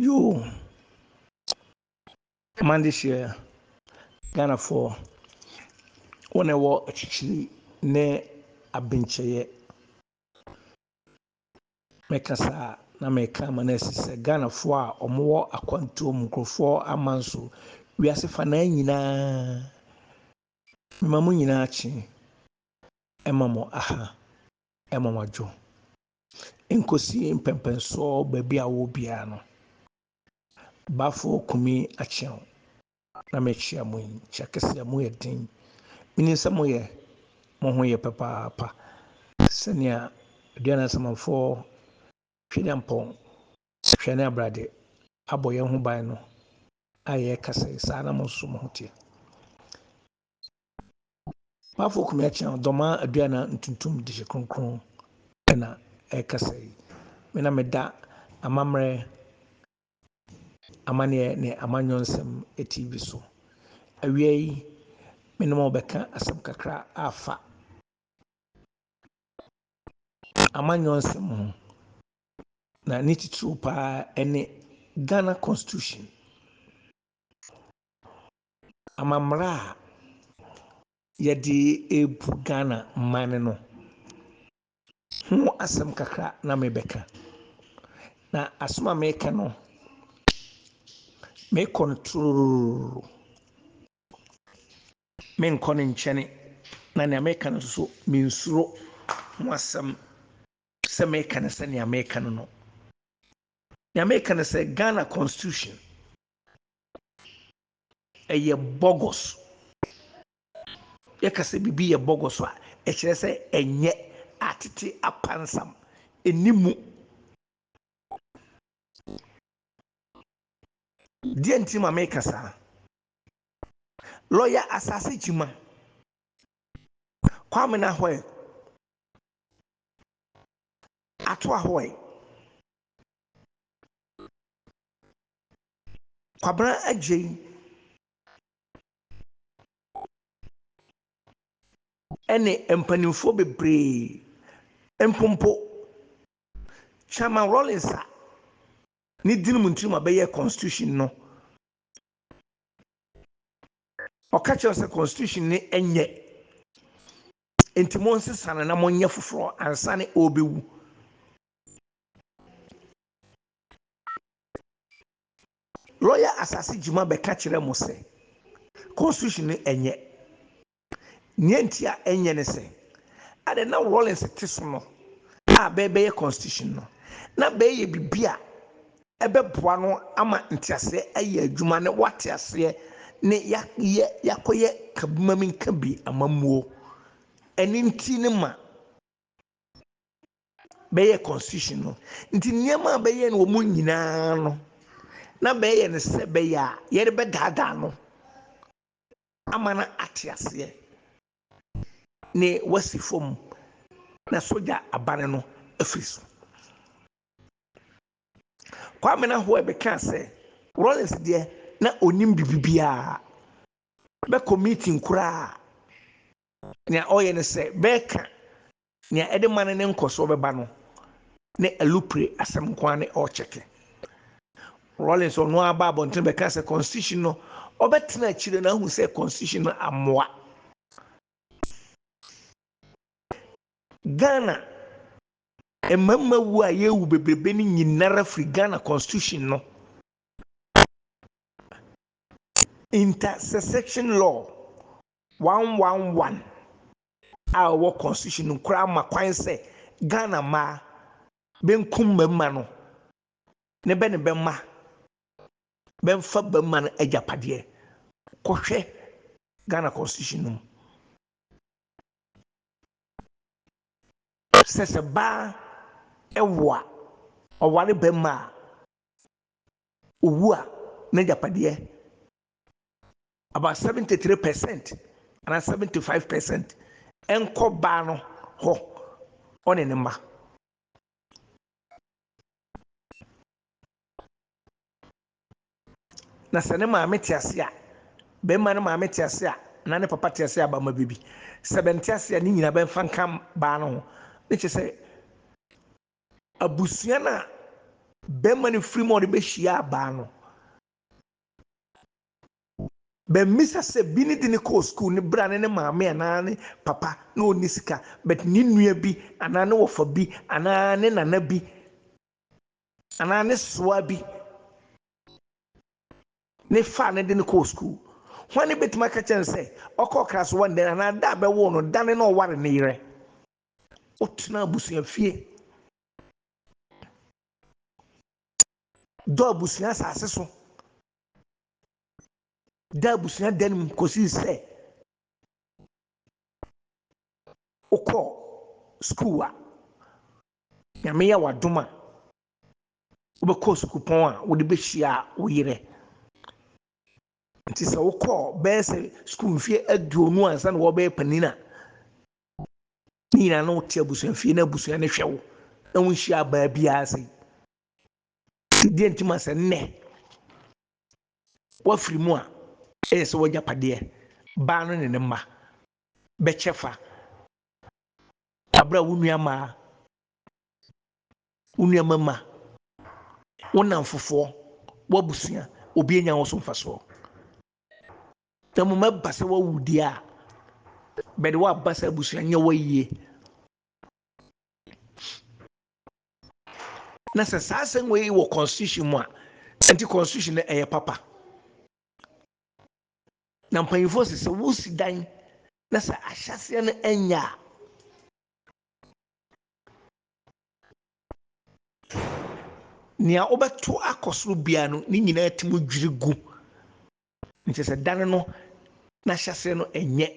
Yoo man this year Ghana for wɔn a ɛwɔ akyirikyiri ne abenkyɛyɛ mɛka saa na mɛka ama no asi sɛ Ghanafoɔ a wɔwɔ akwantuo mu nkurɔfoɔ aman so wiase fanaa nyinaa mema mo nyinaa kye ɛma mo aha ɛma mo adwo Nkosi mpɛnpɛnsoɔ baabi a wowɔ biara no, Baafoɔ Kumi Acheaw na mekyea mo yi. Kyɛ keseɛ, mo yɛ den. Menim sɛ moyɛ, mo ho yɛ papaapa te sɛ nea Aduane Asamanfoɔ, Twedampɔn, Hwɛ ne Abrade abɔ yɛn ho ban no a yɛreka sɛ saa na mo nso mo ho teɛ. Mafo kumi akyɛn ɔdɔmaa aduana ntuntum de hyɛ kronkron na ɛkasa yi. Me na meda amammerɛ, amaneɛ ne amanyɔ nsɛm TV so. Awia yi, me ne mo bɛka asɛm kakra afa amanyɔ nsɛm ho. Na ne titiriw paa ɛne Ghana Constitution. amammerɛ a yɛde rebu Ghana man no ho asɛm kakra na merebɛka. Na asɛm a mereka no, merekɔ no torororo. Menkɔ ne nkyɛne, na nea mereka no nso mensuro ho asɛm sɛ mereka no sɛnea mereka no no. Nea mereka no sɛ Ghana constitution ɛyɛ bɔgɔs. Yɛka sɛ biribi yɛ bɔgɔs a, ɛkyerɛ sɛ ɛnyɛ atete apansam, ɛnni mu. Deɛ nti ma meka saa, lɔya Asase Gyimah, Kwame Nahoɛ, Ato Ahoɛ, Kwabena Adjei ne mpanimfoɔ bebree mpompo Chairman Rawlings a ne dini mu nti na wɔbɛyɛɛ constitution no. Ɔka kyerɛ sɛ constitution no nyɛ nti monsesa no na monyɛ foforɔ ansa na ɔrebɛwu. Lɔya Asase Gyima bɛka kyerɛ mo sɛ constitution no ɛnyɛ. Nea nti a ɛnyɛ ne sɛ, adɛn na Rawlings te so no a bɛrebɛyɛ constitution no, na bɛreyɛ biribi a ɛbɛboa no ama nteaseɛ ayɛ adwuma ne wate aseɛ ne yɛayɛ yɛakɔyɛ kabima-me-nka-bi amammuo. Ɛno nti ne ma. bɛyɛɛ constitution no nti nneɛma a bɛyɛ no wɔn nyinaa no na bɛyɛ no sɛ bɛyɛ a yɛde bɛdaadaa no ama no ate aseɛ ne wasi fam na sogya abane no afiri so kwame na hoɛ bɛkaa sɛ rollins deɛ na ɔnim biribibiaa bɛkɔ meeting koraa nea ɔyɛ no sɛ bɛka Nea ɛde ma no ne nkɔsoɔ bɛba no ne Alupre asɛm nko ara ne ɔrekyɛke. Rawlings ɔno ara baa abɔntene bɛkaa sɛ Constitution no, ɔbɛtena akyire na ahu sɛ Constitution no ammoa Ghana. Mmarima wuo a yɛrewu bebrebe no nyinara firi Ghana Constitution no intersection law 111 a ɛwɔ constitution no koraa ma kwan sɛ Ghana mmaa benkum mmarima no ne bɛ ne bɛ mma bɛmfa barima no agyapadeɛ. Kɔhwɛ Ghana constitution no mu. Sɛ sɛ baa ɛwo a, ɔware barima a, owu a, n'agyapadeɛ about seventy three percent anaa seventy five percent nkɔ baa no hɔ ɔne ne mma. na sɛ ne maame te ase a bɛrima no maame te ase a na ne papa te ase a bama bɛbi sɛ bɛnte ase a ne nyina bɛmfa nka baa no ho ne kyɛ sɛ abusua no a bɛrima no firi mu a ɔde bɛhyia baa no Bɛmmisa sɛ bi ne de no kɔɔ sukuu no bere a ne ne maame anaa ne papa na ɔnni sika, but ne nua bi anaa ne wɔfa bi anaa ne nana bi anaa ne soa bi ne faa no de no kɔɔ sukuu. Hwane bɛtumi aka kyerɛ no sɛ ɔkɔ ɔkra so one day anaa da a bɛwoo no da no na ɔware ne yerɛ? Ɔtena abusua fie. dɔ abusua asase so da abusua dan mu kɔsii sɛ wokɔ sukuu a nyame yɛ wadom a wobɛkɔ sukuupɔn a wode bɛhyia wo yerɛ nti sɛ wokɔ bɛyɛ sɛ sukuu mfeɛ aduonu ansa na wɔbɛyɛ panin a ne nyinaa na wote abusuafie na abusua no hwɛ wo na wonhyia abaa biara ase nti deɛ nti ma sɛ nnɛ woafiri mu a ɛyɛ sɛ wagyapadeɛ baa no ne ne mma bɛkyɛ fa abere a wo nua mmaa wo nua mmarima wo nnamfofoɔ w'abusua obi anya wo so mfasoɔ Na mmom ɛba sɛ wawu deɛ a, bɛde waba sɛ abusua nyɛ wɔ yie. Na sɛ saa asɛm wei wɔ constitution mu a, nti constitution no ɛyɛ papa. Na mpanyinfoɔ sɛ sɛ wosi dan na sɛ ahyɛseɛ no ɛnyɛ a, nea wobɛto akɔ soro biara no ne nyinaa tumi dwiri gu Na kyerɛ sɛ dan no n'ahyɛseɛ no ɛnyɛ.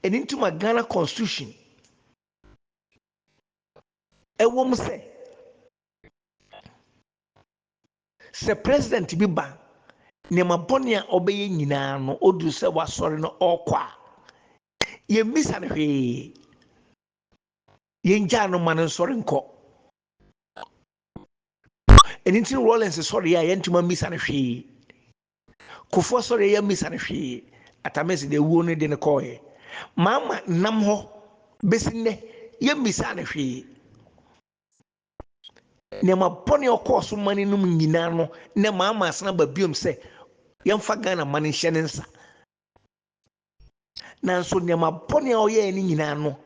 Ɛno nti ma Ghana constitution ɛwɔ mu sɛ sɛ president bi ba nneɛma bɔne a ɔbɛyɛ nyinaa no ɔduru sɛ wasɔre no ɔrekɔ a yɛmmisa no hwee yɛngyaa no ma no nsɔre nkɔ ɛno nti rollins sɔre a yɛntoma mmisa no hwee kofoɔ sɔre yɛ mmisa no hwee atamese deɛ wuo no de no kɔɔɛ maama nam hɔ bɛsi nnɛ yɛ mmisa no hwee nneɛma bɔne ɔkɔɔ so ma no nom nyinaa no na maama asena ba biom sɛ yɛmfa ghana ma no nhyɛ ne nsa Nanso nneɛma bɔne a ɔyɛe no nyinaa no,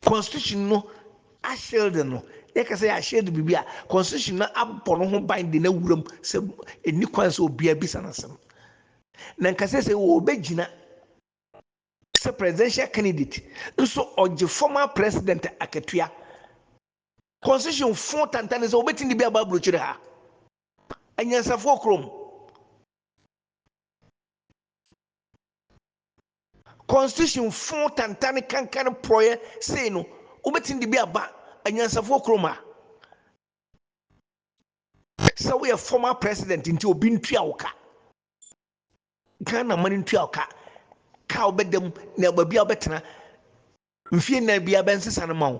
constitution no ahyelde no. Yɛka sɛ yɛahyelde biribi a, constitution no abɔ no ho ban de no awuram sɛ ɛnni kwan sɛ obiara bisa no asɛm. Na nka sɛ sɛ wɔbɛgyina sɛ presidential candidate nso ɔgye former president akatua. Constitution fo tantane sɛ wɔbɛtumi de bi aba aburokyire ha. Anyansafoɔ kurom. Constitution fõ tantane kankan porɔeɛ sei no, wobɛtumi de bi aba anyansafoɔ kurom ha? Sɛ woyɛ former president nti obi ntua wo ka. Ghana man ntua wo ka. Ka wobɛda mu na baabi a wobɛtena mfie nnan biara bɛnsesa no ma wo.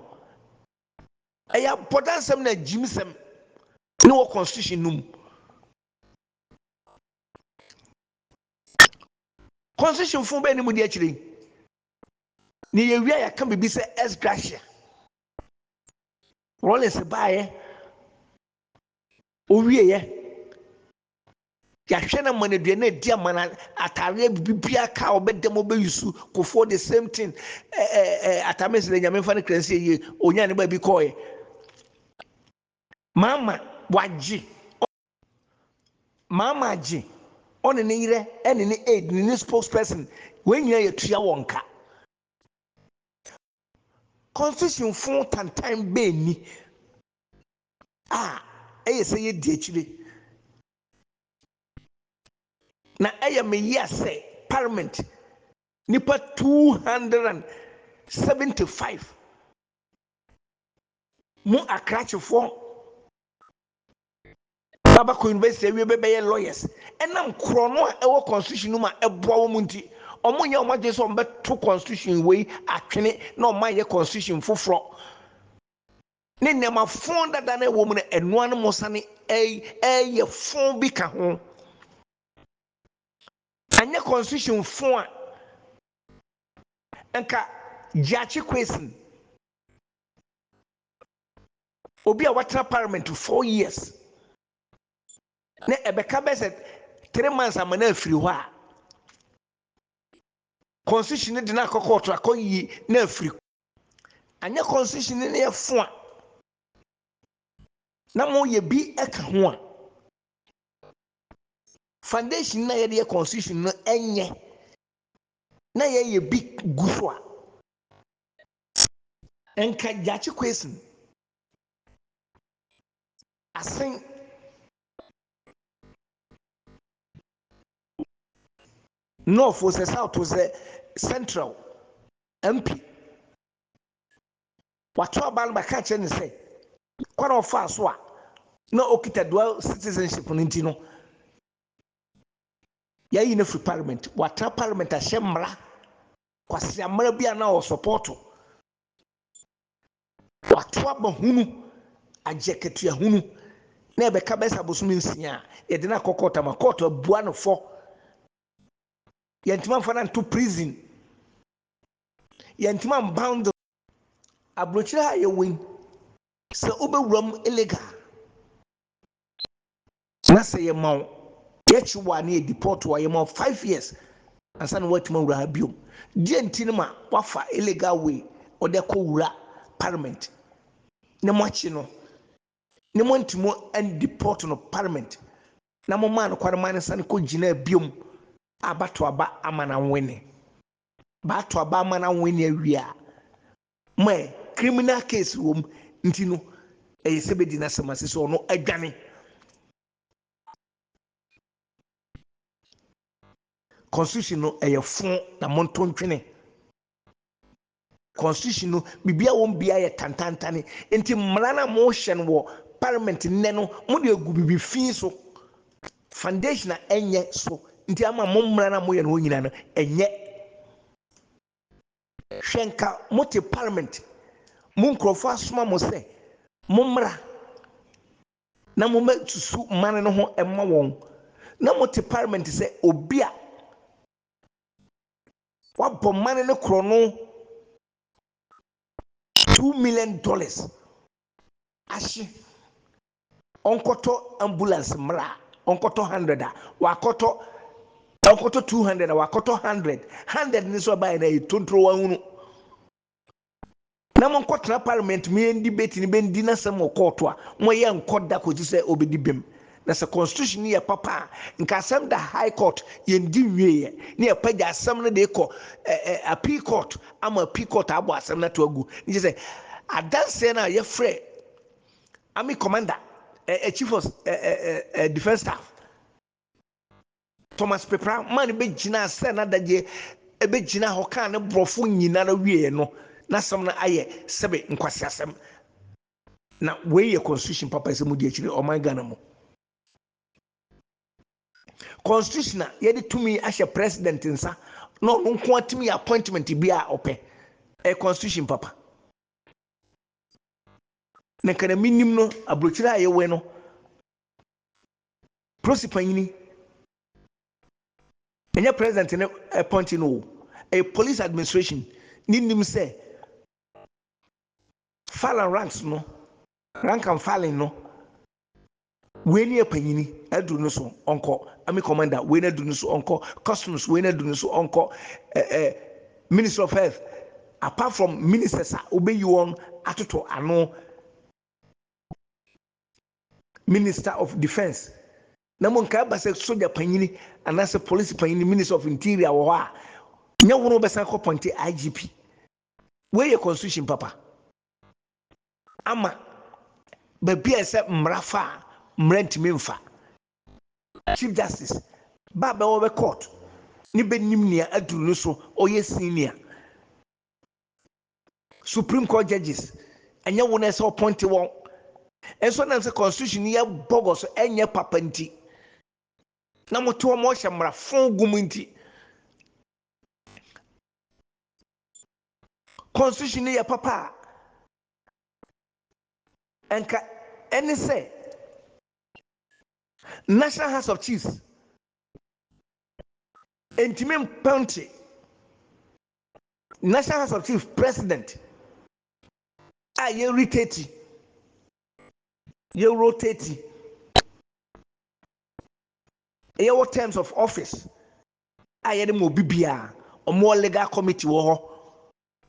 Ɛyɛ abɔdansɛm na agyimsɛm ne wɔ constitution no mu. Constitutionfo bɛyɛ ne mu de akyire yi. Na yɛwie a yɛka biribi sɛ ex gratia. Rollins baeɛ, owieɛ, yɛahwɛ no ama no aduane adi ama no atareɛ biribiara ka a ɔbɛda mu ɔbɛyusu kofoɔ the same thing atame sɛ nyame mfa no kra nsi yie ɔnya ne baabi kɔɔɛ mama wagye Mama Agye, ɔne ne yerɛ ɛne ne aide ne ne spokesperson wɔn nyinaa yɛtua wɔn ka. Constitution fo tantan bɛɛ ni a ɛyɛ sɛ yɛ di akyire. Na ɛyɛ me yea sɛ parliament nipa 275 mo akrakyefoɔ Baba kɔ university awie bɛ bɛyɛ lawyers ɛnam korɔno a ɛwɔ constitution no mu a ɛboa wɔn nti. Wɔn nyɛ wɔn adwene sɛ wɔn bɛ to constitution wei atwene na wɔn ayɛ constitution foforɔ ne nneɛma fon dada no ɛwɔ mu no ɛno ara no mo sane ɛɛyɛ fon bi ka ho. Anyɛ constitution fon a nka Gyakye Quayson. obi a watena parliament to four years na ɛbɛka bɛ sɛ three months ama no afiri hɔ a constitution no de no akɔ kɔɔto akɔyi no afiri anyɛ constitution no yɛ fo a na moyɛ bi ka ho a foundation na yɛde yɛ constitution no ɛnyɛ na yɛyɛ bi gu so a Nka Gyakye Kwesi asen. North o sɛ South o sɛ Central MP wato aba no bɛka kyerɛ ne sɛ kwan a ɔfaa so a na ɔkita dual citizenship no nti no yɛayi no afiri parliament watena parliament ahyɛ mmara Kwaseammerɛ bi a na ɔresɔpɔɔto Kwato aba hunu agye akatua hunu na ɛbɛka bɛyɛ sɛ abosome nsia a yɛde no akɔ kɔɔto ama kɔɔto abua no fɔ. Yɛntumi amfa no anto prison. Yɛntumi ambound no. Aburokyire ha a yɛwɔ yi, sɛ wobɛwura mu illegal a, Na sɛ yɛma wo, yɛkye wo a na yɛdeport wo a, yɛma wo five years ansa na woatumi awura ha biom. Deɛ nti no ma woafa illegal way wode akɔ wura parliament na moakye no na moantumi andeport no parliament na momaa no kwane maa no sane kɔgyinaa biom a baato aba ama no awene. Baato aba ama no awene awie a, ma ɛ criminal case wɔ mu nti no ɛyɛ sɛ bɛdi n'asɛm ase sɛ ɔno adwane constitution no ɛyɛ fo na monto ntwene constitution no biribi a wɔn bia yɛ tantantane nti mmara no a mohyɛ no wɔ parliament nnɛ no mode agu biribi fi so foundation a ɛnyɛ so nti ama mo mmara no a moyɛ no hɔ nyinaa no ɛnyɛ Hwɛ nka mote parliament mo nkurɔfoɔ asoma mo sɛ mommra na mommɛsusu man no ho mma wɔn na mote parliament sɛ obi a wabɔ man no korɔno two million dollars ahye ɔnkɔtɔ ambulance mmra a ɔnkɔtɔ hundred a wakɔtɔ ɔnkɔtɔ two hundred a wakɔtɔ hundred hundred ne so ɛbaeɛ no ayɛ tontoro wahunu na monkɔtena parliament mu yɛn debate no bɛndi n'asɛm wɔ kɔɔto a moyɛ nkɔ da kɔsi sɛ ɔbɛdi bem na sɛ constitution no yɛ papa a nka asɛm da high court yɛndi nwieɛ ne yɛpagya asɛm no de kɔ appeal court ama appeal court abɔ asɛm no ato agu ne kyɛ sɛ adanseɛ no a yɛfrɛ Army Commander, eh, eh, Chief of eh, eh, eh, eh, Defense Staff, Thomas Pepra maa no bɛgyinaa sɛ n'adagyeɛ ɛbɛgyina hɔ kaa ne borɔfo nyinara wieɛ no n'asɛm no ayɛ sɛbe nkwaseasɛm na wei yɛ constitution papa ɛsɛ mu di akyire ɔman Ghana mu constitution a yɛde tumi ahyɛ president nsa na ɔno nko atumi yɛ appointment bi a ɔpɛ ɛ constitution papa Na nka na menim no, aburokyire a yɛwɛn no, polisi panyini, ɛnyɛ president ne appointee no o, ɛyɛ police administration ne nim sɛ file and ranks no, rank and filing no, Wei ne apanyini aduru no so ɔnkɔ army commander wei no aduru no so ɔnkɔ customs wei no aduru no so ɔnkɔ eh, eh, minister of health apart from ministers a wobɛyi wɔn atoto ano minister of defence na mo nkae ba sɛ soja panyini anaasɛ police panyini minister of interior wɔ hɔ a nyɛ wono wobɛsan kɔ pɔnte igp wei yɛ constitution papa ama baabi a ɛsɛ mmara fa a mmara ntumi mfa. Chief Justice ba a bɛwɔ bɛ court ne bɛnim nea aduru no so ɔyɛ senior. Supreme Court judges ɛnyɛ wo na ɛsɛ ɔpɔnte wɔn. Nso nam sɛ constitution no yɛ bɔgɔ so ɛnyɛ papa nti na mote wɔn ɔhyɛ mmara fon gu mu nti constitution no yɛ papa a, ɛnka ɛne sɛ National House of Chiefs ntumi mpɛnte National House of Chiefs president a yɛ retati yɛ rotati yɛwɔ terms of office a yɛde ma obi biara. Wɔwɔ legal committee wɔ hɔ.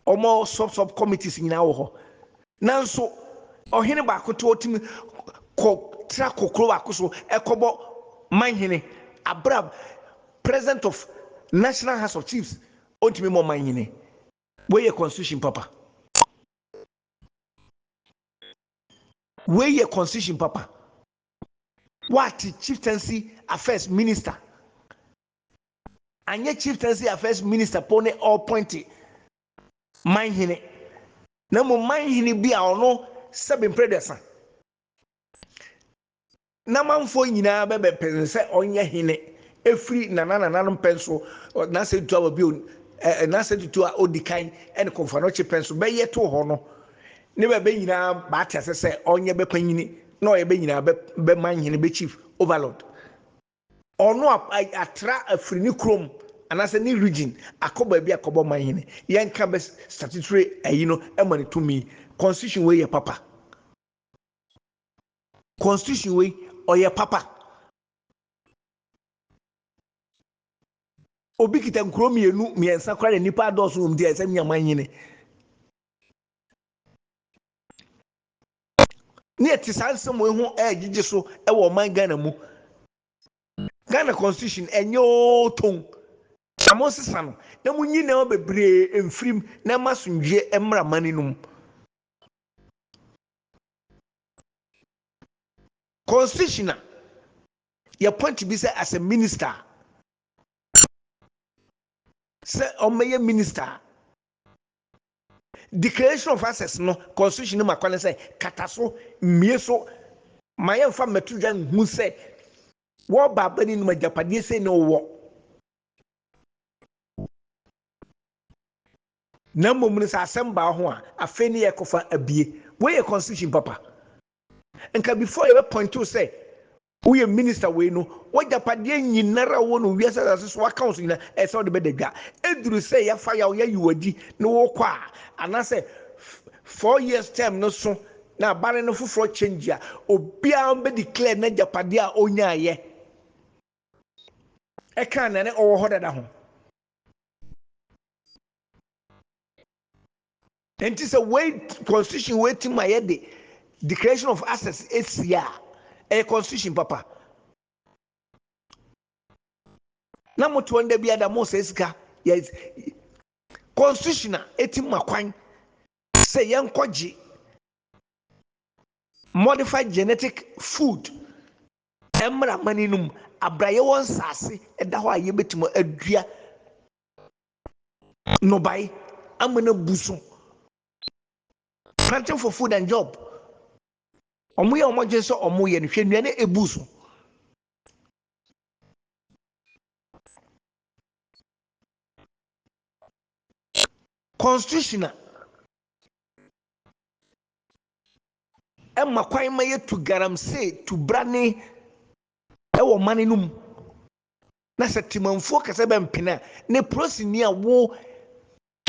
Wɔwɔ sub sub committees nyinaa wɔ hɔ. Nanso ɔhene baako to ɔtumi kɔ tra kɔ kuro baako so ɛkɔbɔ manhene abira president of national house of chiefs ɔntumi mɔ manhene. Wei yɛ constitution papa. Wei yɛ constitution papa. Woate Chieftaincy Affairs Minister anyɛ Chieftaincy Affairs Minister po ne ɔɔpɔnte manhene na mmom manhene bi a ɔno sɛbe mprɛdɛsa na manfoɔ nyinaa bɛbɛpɛn sɛ ɔnyɛ hene ɛfiri nana nananom pɛn so n'asɛ tutu a wɔbi n'asɛ tutu a ɔdi kan ɛne kɔmfanɔkye pɛn so bɛyɛ to hɔ no Ne bɛ bɛ nyinaa b'ate ase sɛ ɔnyɛ bɛ panyini na ɔyɛ bɛ nyinaa bɛ bɛ man hene, bɛ chief, overlord. Ɔno a a atra afiri ne kurom anaasɛ ne region akɔ baabi akɔbɔ man hene. Yɛnka bɛ statutory ayi no ma no tumi. Constitution wei yɛ papa. Constitution wei ɔyɛ papa. Obi kita nkuro mmienu, mmiɛnsa koraa na nnipa adɔɔso wɔ mu nti ɛsɛ nya man hene. ne ɛte saa nsɛm wei ho ɛregyegye so wɔ ɔman ghana mu ghana constitution ɛnyɛ oo ton na mo nsesa no na mo nyi nneɛma bebree mfirim na ɛma asomdwoeɛ mmra mani no mu constitution a yɛpɔnte bi sɛ as a minister sɛ ɔmmɛyɛ minister Declaration of Access no Constitution no ma kwan sɛ kata so, mmue so ma yɛmfa mmɛto dwa nhu sɛ w'ɔbaabanin nom agyapadeɛ sei na ɔwɔ. Na mmom no sɛ asɛm baa ho a, afei ne yɛkɔfa abue. Wei yɛ Constitution papa. Nka before yɛbɛpɔinto sɛ Woyɛ minister wei no, w'agyapadeɛ nyinara a wowɔ no wiase asase so aka wo so nyina ɛsɛ wode bɛda dwa. Ɛduru sɛ yɛafa yaw yɛayi wo adi ne wokɔ a, anaasɛ four years term no so na abare no foforɔ change a, obiara bɛ declare n'agyapadeɛ a ɔnyaaeɛ ɛka nea na ɔwɔ hɔ dada ho. Nti sɛ wei constitution wei ti ma yɛde declaration of access esi a ɛyɛ constitution papa na mo toɔ nda bi ada mo sɛ sika yɛ constitution a eti ma kwan sɛ yɛn kɔgye modified genetic food ɛmra mani nom abira yɛwɔ nsaase ɛda hɔ a yɛbɛtumi adua nnɔbae ama no abu so. Planting for food and job. Wɔn yɛ wɔn adwene sɛ wɔn yɛ no hwɛ nnuane ebu so. Constitution a ɛma kwan ma yɛtu galamsey tubrane wɔ ɔman no mu. na sɛ temanfuo kɛsɛ bɛmpene a, ne polisini a wo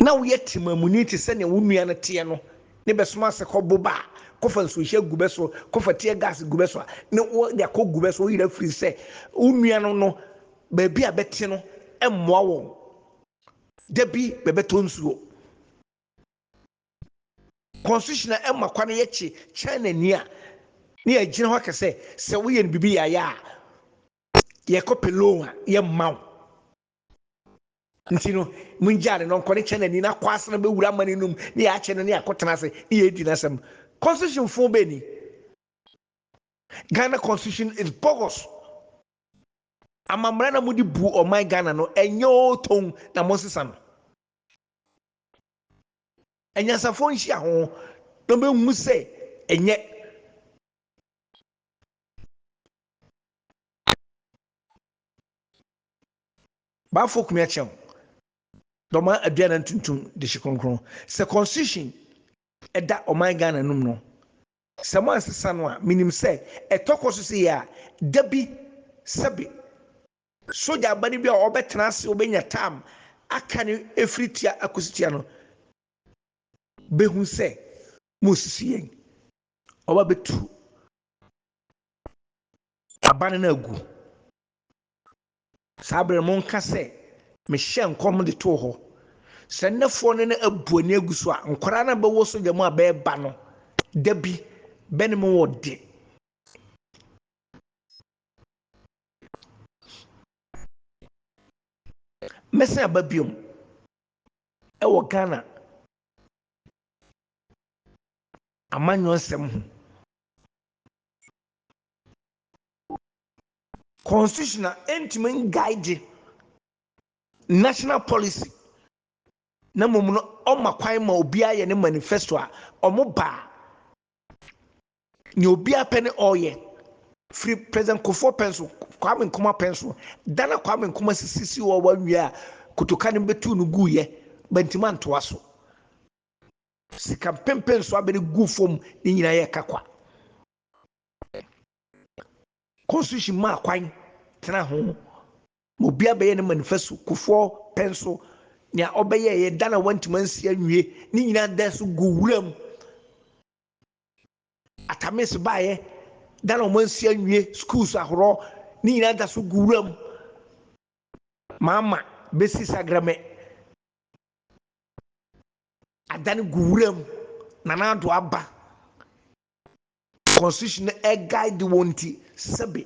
na woyɛ temamuni te sɛ nea wo nua no teɛ no ne bɛsoma ase kɔ boba a kɔfa nsuohyɛ gu bɛ so kɔfa tear gas gu bɛ so a ne wo de akɔ gu bɛ so woyerɛ firi sɛ wo nua no no baabi a bɛte no mmoa wɔn da bi bɛbɛtɔ nsuo constitution a ɛma kwa no yɛkye china ni a ne yɛgyina hɔ kɛsɛ sɛ woyɛ no biribi yaya a Yɛkɔ Pelon a, yɛmma wo. Nti no, mungyaa no na ɔnkɔ ne Canaanni no akɔ ase na ɔbɛwura amane no mu, na yɛakyɛ no ne akɔtena ase ne yɛadi n'asɛm. Constitution foo bɛn ni? Ghana constitution is bogus. Amammara na mode bu ɔman Ghana no, ɛnyɛ oo tɔn na monsesa no. Anyansafoɔ nhyia ho na ɔbɛhu sɛ ɛnyɛ. Bafo kumia kyɛw dɔma aduana ntuntum de hye kronkron sɛ constitution ɛda ɔman Ghana num no sɛ mo ansesa no a menim sɛ ɛtɔ kɔ so sɛ yɛ a da bi sɛbe sogya aba no bi a ɔbɛtena ase ɔbɛnya tam aka no ɛfiri tia akosi tia no bɛhu sɛ mo sisi yɛn ɔba bɛtu aban no agu. Saa berɛ no monka sɛ, Mehyɛɛ nkɔm de too hɔ sɛ nnɛfoɔ no no abu ani agu so a, nkwadaa no a bɛwɔ sogya mu a bɛreba no da bi bɛne mo wɔ de. Mɛsan aba biom ɛwɔ Ghana amanyɔsɛm ho. Constitution a ɛntumi nguide national policy na mmom no ɔma kwan ma obiara yɛ ne manifesto a wɔn ba a nea obiara pɛ ne ɔreyɛ firi president kofoɔ pɛn so kwame nkoma pɛn so da na kwame nkoma sisisi wɔ wɔn awia a kotoka no bɛtu no guiɛ bɛntumi antoa so. Sika mpempem so abere guu fam, ne nyinaa yɛ ɛka kwa. Constitution maa kwan tena ho ma obiara bɛyɛ ne manifesto, Kufuor pɛ nso nea ɔbɛyɛ yɛ da na wantumi ansi anwie, ne nyinaa da so gu wuram. Atamis baeɛ, da na wɔn ansi anwie, schools ahoroɔ, ne nyinaa da so gu wuram. Maama bɛsi Sagrame. Adane gu wura mu. Nana Addo aba constitution no ɛguide wɔn nti sɛbe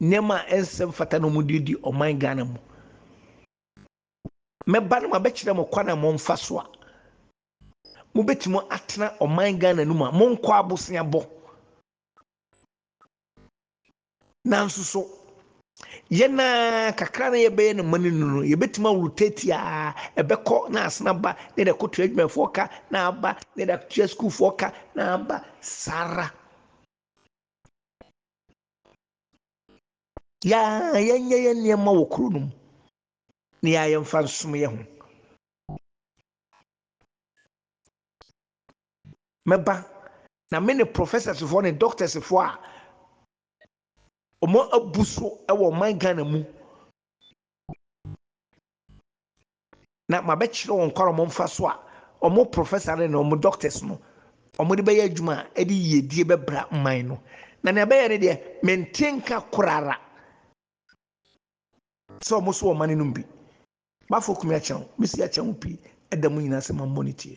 nneɛma a ɛnsɛ mfata na wɔn de di ɔman Ghana mu. Mɛba no mabɛkyerɛ mo kwan a momfa so a mobɛtumi atena ɔman Ghana no mu a monkɔ aboseabɔ. Nanso so yɛn a kakra na yɛbɛyɛ no ma no nu no, yɛbɛtumi aworo tati a ɛbɛkɔ na asena ba na yɛde akɔtua adwumafoɔ ka na aba na yɛde atua sukuufoɔ ka na aba saa ara. Yɛa yɛnyɛ yɛn nneɛma wɔ kuro no mu na yɛa yɛmfa nsom yɛn ho. Mɛba, na me ne professorsfoɔ ne doctorsfoɔ a wɔn abu so wɔ ɔman Ghana mu, na mabɛkyerɛ wɔn kwan a wɔmfa so a wɔn professor no ne wɔn doctors no wɔde bɛyɛ adwuma a ɛde yiedie bɛbra man no. Na nea ɛbɛyɛ ne deɛ, mente nka korara sɛ wɔn nso wɔn mma no nom bi. M'afo kumi akyɛ wo, me si akyɛ wo pii, ɛda mu nyinaa sɛ ma mmɔ ne tie.